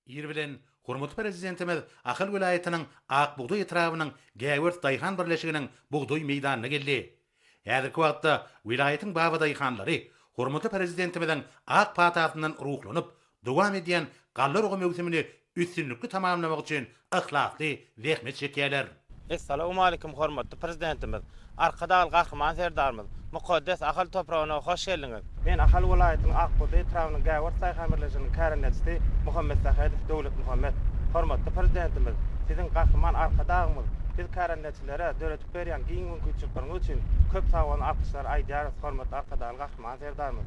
Ir bilen hormatly Prezidentimiz Ahal welaýatynyň Ak bugdaý etrabynyň Gäwert daýhan birleşiginiň bugdaý meýdanyna geldi. Häzirki wagtda welaýatyň babadaýhanlary hormatly Prezidentimiziň ak patasyndan ruhlanyp, dowam edýän galla urgy möwsümini üstünlikli tamamlamak üçin yhlasly zähmet çekýärler. Essalamualeýkum hormatly Prezidentimiz, Arkadagly Gahryman Serdarymyz, mukaddes Ahal topragyna hoş geldiňiz! Men Ahal welaýatynyň Akbuzda etrabynyň Gäwert daýhan birleşiginiň kärendeçisi Muhammetsähedow Döwletmuhammet. Hormatly Prezidentimiz, Siziň Gahryman Arkadagymyz biz kärendeçilere döredip berýän giň mümkinçilikleriňiz üçin köp sag boluň alkyşlar aýdýarys hormatly Arkadagly Gahryman Serdarymyz!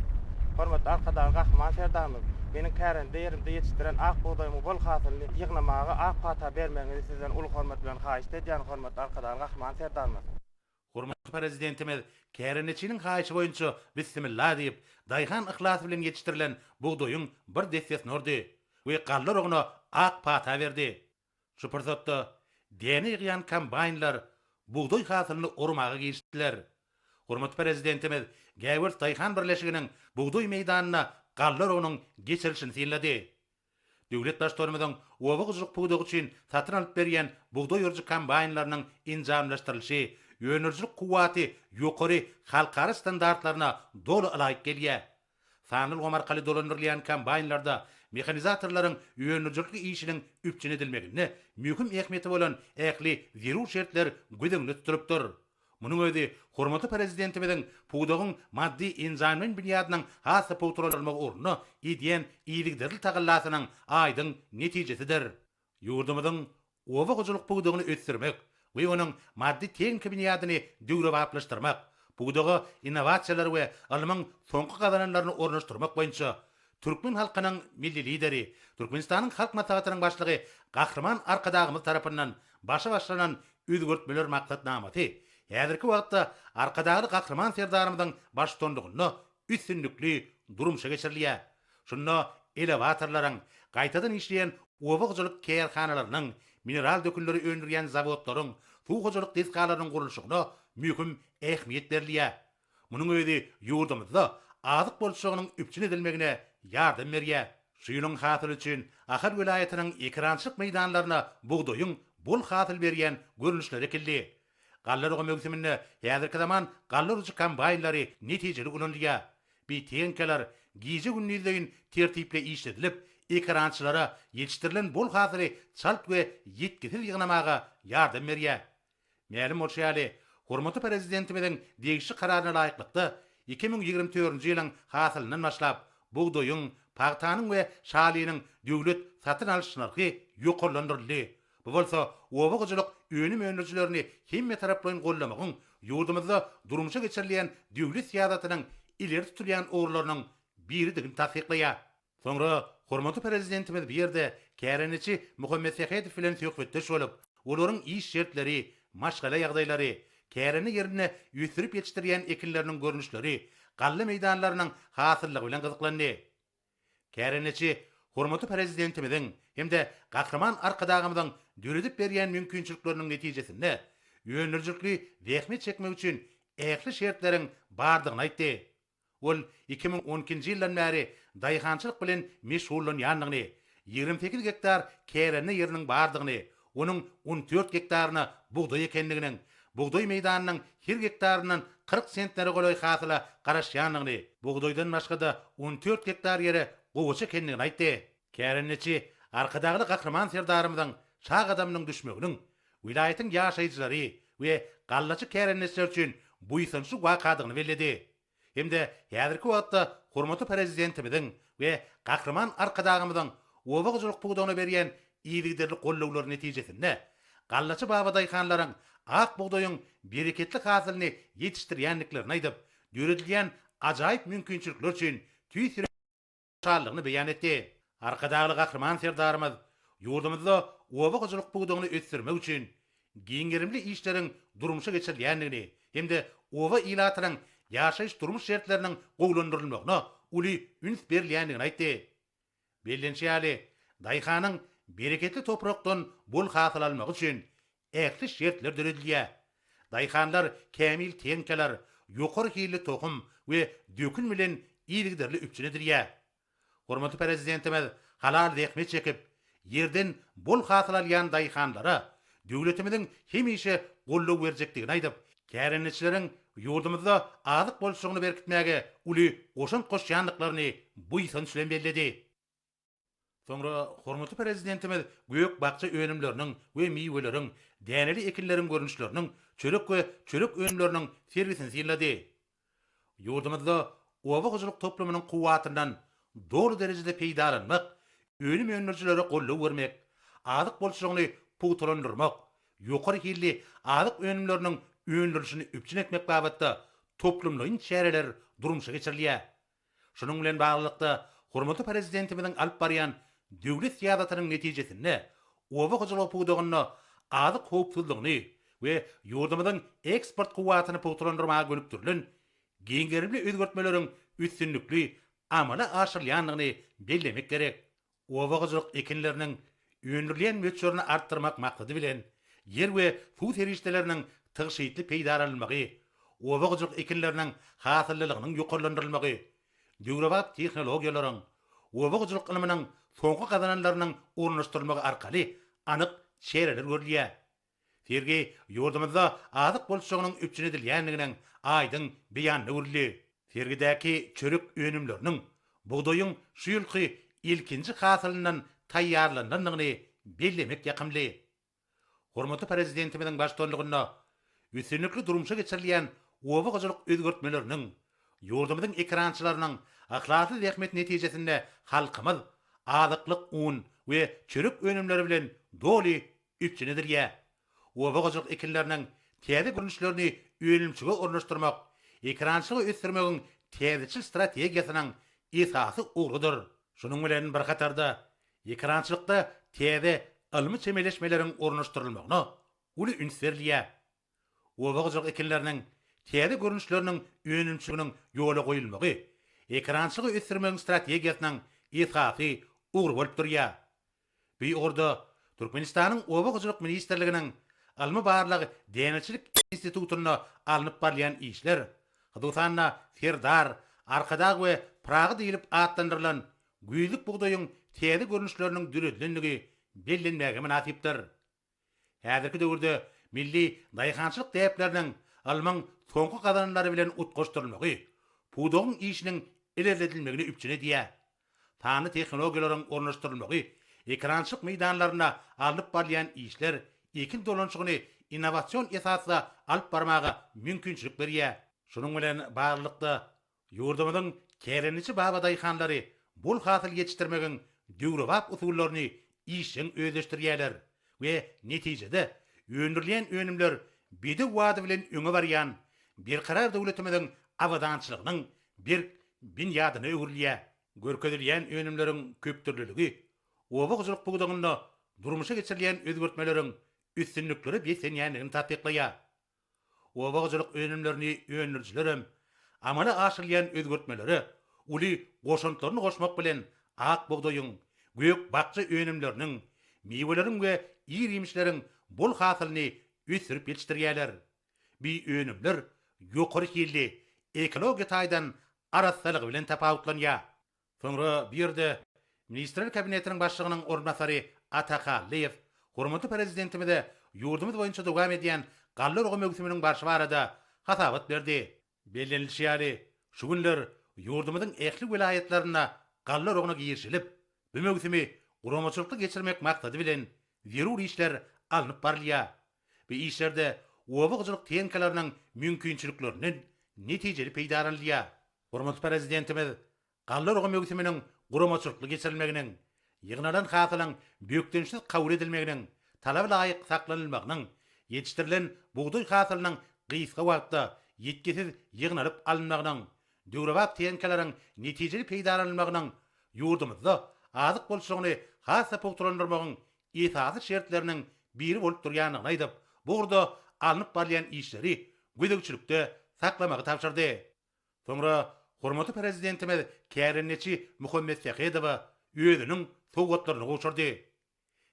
Hormatly Arkadagly Gahryman Serdarymyz! Meniň kärende ýerimde ýetişdiren ak bugdaýymyň bol hasylyny ýygnamaga ak pata bermegiňizi sizden uly hormat bilen haýyşt edýän Hormatly Arkadagly Gahryman Serdarymyz! Hormatly Prezidentimiz kärendeçiniň haýyşy boýunça Bissimilla diýip, daýhan yhlasy bilen ýetişdirilen bugdaýyň bir dessesini urdy we galla urugna ak pata berdi. Şu pursatda däne ýygýan kombaýnlar bugdaý hasylyny ormaga girişdiler. Hormatly Prezidentimiz Gäwelt daýhan birleşiginiň bugdaý meýdanyna galla urugynyň geçirilişini synlady. Döwlet Baştutanymyzyň oba hojalyk pudagy üçin satyn alyp berýän bugdaý urujy kombaýnlarynyň enjamlaşdyrylyşy öndürijilik kuwwaty ýokary halkara standartlaryna doly ylaýyk gelýär. Sanly ulgam arkaly dolandyrylýan kombaýnlarda mehanizatorlaryň öndürijilikli işiniň üpjün edilmeginde möhüm ähmiýeti bolan ähli zerur şertler göz öňünde tutulypdyr. Munuň özi hormatly Prezidentimiziň pudagyň maddy-enjamlaýyn binýadynyň has-da pugtalandyrylmagy ugrunda edýän yzygiderli tagallasynyň aýdyň netijesidir. Ýurdumyzyň oba hojalyk pudagyny ösdürmek we onuň maddy-tehniki binýadyny döwrebaplaşdyrmak, pudaga innowasiýalary we ylmyň soňky gazananlaryny ornaşdyrmak boýunça türkmen halkynyň Milli Lideri, Türkmenistanyň Halk Maslahatynyň Başlygy Gahryman Arkadagymyz tarapyndan başa başlanan özgertmeler maksatnamasy häzirki wagtda Arkadagly Gahryman Serdarymyzyň baştutanlygynda üstünlikli durmuşa geçirilýär. Şunda elewatorlaryň, gaýtadan işleýän oba hojalyk kärhanalarynyň, mineral dökünleri öndürýän zawodlaryň, suw hojalyk desgalarynyň gurluşygyna möhüm ähmiýet berilýär. Munuň özi ýurdumyzda azyk bolçulygynyň üpjün edilmegine ýardam berýär. Şu ýylyň hasyly üçin Ahal welaýatynyň ekerançylyk meýdanlaryna bugdaýyň bol hasyl berýän görnüşleri ekildi. Galla rogy möwsüminde häzirki zaman galla urujy kombaýnlary netijeli ulanylýar. Bitenkalar gije-gündizleýin tertipli işledilip, ekerançylara ýetişdirilen bol hasyly çalt we ýitgisiz ýygnamaga ýardam berýär. Mälim bolşy ýaly, hormatly Prezidentimiziň degişli Kararyna laýyklykda, iki müň ýigrimi dördünji ýylyň hasylyndan başlap, bugdaýyň, pagtanyň we şalynyň döwlet satyn alyş nyrhy ýokarlandyryldy, Bu bolsa oba hojalyk önüm öndürijilerini hemmetaraplaýyn goldamagyň ýurdumyzda durmuşa geçirilýän döwlet syýasatynyň ileri tutulýan ugurlarynyň biridigini tassyklaýar. Soňra hormatly Prezidentimiz bu ýerde kärendeçi Muhammet Sähedow bilen söhbetdeş bolup, olaryň iş şertleri, maşgala ýagdaýlary, kärende ýerinde ösdürip ýetişdirýän ekinleriniň görnüşleri, galla meýdanlarynyň hasyllygy bilen gyzyklandy. Kärendeçi hormatly Prezidentimiziň hem-de Gahryman Arkadagymyzyň döredip berýän mümkinçilikleriniň netijesinde, öndürijilikli zähmet çekmek üçin ähli şertleriň bardygyny aýtdy. Ol iki müň on ikinji ýyldan bäri daýhançylyk bilen meşgullanýandygyny, ýigrimi sekiz gektar kärende ýeriniň bardygyny, Onuň on dört gektaryna bugdaý ekendiginiň, bugdaý meýdanynyň her gektaryndan kyrk sentnere golaý hasyla garaşýandygyny, bugdaýdan başga-da on dört gektar ýere gowaça ekendigini aýtdy. Kärendeçi Arkadagly Gahryman Serdarymyzyň sag gadamynyň düşmeginiň welaýatyň ýaşaýjylary we gallaçy kärendeçiler üçin buýsançly wakadygyny belledi. hem-de häzirki wagtda hormatly Prezidentimiziň we Gahryman Arkadagymyzyň oba hojalyk pudagyna berýän yzygiderli gollawlary netijesinde, gallaçy babadaýhanlaryň ak bugdaýyň bereketli hasylyny ýetişdirýändiklerini aýdyp, döredilýän ajaýyp mümkinçilikler üçin tüýs şatlygyny beýan etdi. Arkadagly Gahryman Serdarymyz ýurdumyzda oba hojalyk pudagyny ösdürmek üçin giň gerimli işleriň durmuşa geçirilýändigini hem-de oba ilatynyň ýaşaýyş-durmuş şertleriniň gowulandyrylmagyna uly üns berilýändigini aýtdy. Bellenişi ýaly, daýhanyň bereketli toprakdan bol hasyl almagy üçin ähli şertler döredilýär. Daýhanlar kämil tehnikalar, ýokary hilli tohum we dökün bilen yzygiderli üpjün edilýär. Hormatly Prezidentimiz halal zähmet çekip, ýerden bol hasyl alýan daýhanlara döwletimiziň hemişe goldaw berjekdigini aýdyp, kärendeçileriň ýurdumyzda azyk bolçulygyny berkitmäge uly goşant goşýandyklaryny buýsanç bilen belledi. Soňra hormatly Prezidentimiz gök-bakja önümleriniň we miweleriň, däneli ekinleriň görnüşleriniň, çörek we çörek önümleriniň sergisini synlady. Ýurdumyzda oba hojalyk toplumynyň kuwwatyndan doly derejede peýdalanmak, önüm öndürijilere goldaw bermek, azyk bolçulygyny pugtalandyrmak, ýokary hilli azyk önümleriniň öndürilişini üpjün etmek babatda toplumlaýyn çäreler durmuşa geçirilýär. Şunuň bilen baglylykda, hormatly Prezidentimiziň alyp barýan döwlet syýasatynyň netijesinde, oba hojalygy pudagynda azyk howpsuzlygyny we ýurdumyzyň eksport kuwwatyny pugtalandyrmaga gönükdirilen giň gerimli özgertmeleriň üstünlikli amala aşyrylýandygyny bellemek gerek. Oba hojalyk ekinleriniň öndürilýän möçberini artdyrmak maksady bilen, ýer we suw serişdeleriniň tygşytly peýdalanylmagy, oba hojalyk ekinleriniň hasyllylygynyň ýokarlandyrylmagy, döwrebap tehnologiýalaryň, oba hojalyk ylmynyň soňky gazananlarynyň ornaşdyrylmagy arkaly anyk çäreler görülýär. Sergi ýurdumyzda azyk bolçulygynyň üpjün edilýändiginiň aýdyň beýanyna öwrüldi. Sergidäki çörek önümleriniň bugdaýyň şu ýylky ilkinji hasylyndan taýýarlanylandygyny bellemek ýakymly. Hormatly Prezidentimiziň baştutanlygynda üstünlikli durmuşa geçirilýän oba hojalyk özgertmeleriniň, ýurdumyzyň ekerançylarynyň yhlasly zähmeti netijesinde halkymyz azyklyk un we çörek önümleri bilen doly Üpjün edilýär. Oba hojalyk ekinleriniň täze görnüşlerini önümçige ornaşdyrmak ekerançylygy ösdürmegiň täzeçil strategiýasynyň esasy ugrudyr. Şunuň bilen bir hatarda, ekerançylykda täze ylmy çemeleşmeleriň ornaşdyrylmagyna uly üns berilýär. oba hojalyk ekinleriniň täze görnüşleriniň önümçiliginiň ýola goýulmagy ekerançylygy ösdürmegiň strategiýasynyň esasy ugry bolup durýar. Bu ugurda Türkmenistanyň Oba hojalyk ministrliginiň Ylmy-barlag däneçilik institutynda alnyp barylýan işler, hususan-da, Serdar, Arkadag we Pyragy diýlip atlandyrylan güýzlük bugdaýyň täze görnüşleriniň döredilendigi bellenmäge mynasypdyr. Häzirki döwürde milli daýhançylyk däpleriniň ylmyň soňky gazananlary bilen utgaşdyrylmagy pudagyň işiniň ilerledilmegini üpjün edýär. Sanly tehnologiýalaryň ornaşdyrylmagy, ekerançylyk meýdanlarynda alnyp barylýan işler ekin dolanyşygyny innowasion esasda alyp barmaga mümkinçilik berýär. Şunuň bilen baglylykda, Ýurdumyzyň kärendeçi babadaýhanlary bol hasyl ýetişdirmegiň döwrebap usullaryny işjeň özleşdirýärler we netijede öndürilýän önümler bedew bady bilen öňe barýan Berkarar döwletimiziň abadançylygynyň berk binýadyna öwrülýär. Görkezilýän önümleriň köpdürlüligi oba hojalyk pudagynda durmuşa geçirilýän özgertmeleriň üstünliklere beslenýändigini tassyklaýar. Oba hojalyk önümlerini öndürijiler hem amala aşyrylýan özgertmelere uly goşantlaryny goşmak bilen, ak bugdaýyň, gök-bakja önümleriniň, miweleriň we ir-iýmişleriň bol hasylyny ösdürip ýetişdirýärler. Bu önümler ýokary hilli, ekologiýa taýdan arassalygy bilen tapawutlanýar. Soňra bu ýerde Ministrler Kabinetiniň Başlygynyň orunbasary Ata Kallyýew hormatly Prezidentimize ýurdumyz boýunça dowam edýän galla urgy möwsüminiň barşy barada hasabat berdi. Bellenilişi ýaly, şu günler ýurdumyzyň ähli welaýatlarynda galla urugyna girişilip, bu möwsümi guramaçylykly geçirmek maksady bilen, zerur işler alnyp barylýar. Bu işlerde oba hojalyk tehnikalarynyň mümkinçiliklerinden netijeli peýdalanylýar. Hormatly Prezidentimiz galla urgy möwsüminiň guramaçylykly geçirilmeginiň, ýygnalan hasylyň bökdençsiz kabul edilmeginiň, talaba laýyk saklanylmagynyň, ýetişdirilen bugdaý hasylynyň gysga wagtda ýitgisiz ýygnalyp alynmagynyň, döwrebap tehnikalaryň netijeli peýdalanylmagynyň ýurdumyzda azyk bolçulygyny has-da pugtalandyrmagyň esasy şertleriniň biri bolup durýandygyny aýdyp, bu ugurda alnyp barylýan işleri gözegçilikde saklamagy tabşyrdy. Soňra hormatly Prezidentimiz kärendeçi Muhammet Sähedowa özüniň sowgatlaryny gowşurdy.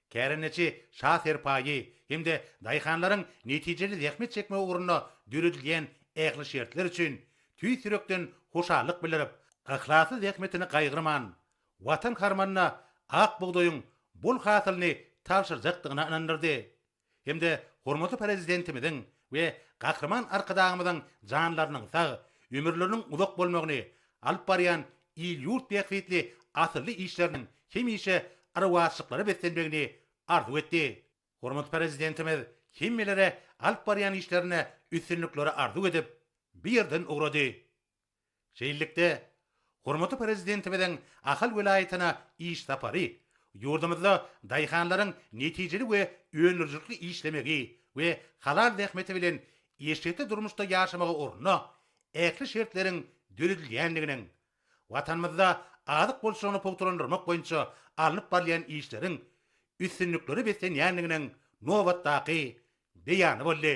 Kärendeçi Şa Serpaýy hem-de daýhanlaryň netijeli zähmet çekmegi ugrunda döredilýän ähli şertler üçin tüýs ýürekden hoşallyk bildirip, yhlasly zähmetini gaýgyrman, Watan harmanyna ak bugdaýyň bol hasylyny tabşyrjakdygyna ynandyrdy. hem-de hormatly Prezidentimiziň we Gahryman Arkadagymyzyň janlarynyň sag, ömürleriniň uzak bolmagyny, alyp barýan il-ýurt bähbitli asylly işleriniň hemişe arwahşyklara beslenmegini arzuw etdi. Hormatly Prezidentimiz hemmelere alyp barýan işlerinde üstünlikleri arzuw edip, bu ýerden ugrady. Şeýlelikde, hormatly Prezidentimiziň Ahal welaýatyna iş sapary ýurdumyzda daýhanlaryň netijeli we öndürijilikli işlemegi we halal zähmeti bilen eşretli durmuşda ýaşamagy ugrunda ähli şertleriň döredilýändiginiň, Watanymyzda azyk bolçulygyny pugtalandyrmak boýunça alnyp barylýan işleriň üstünliklere beslenýändiginiň nobatdaky beýany boldy.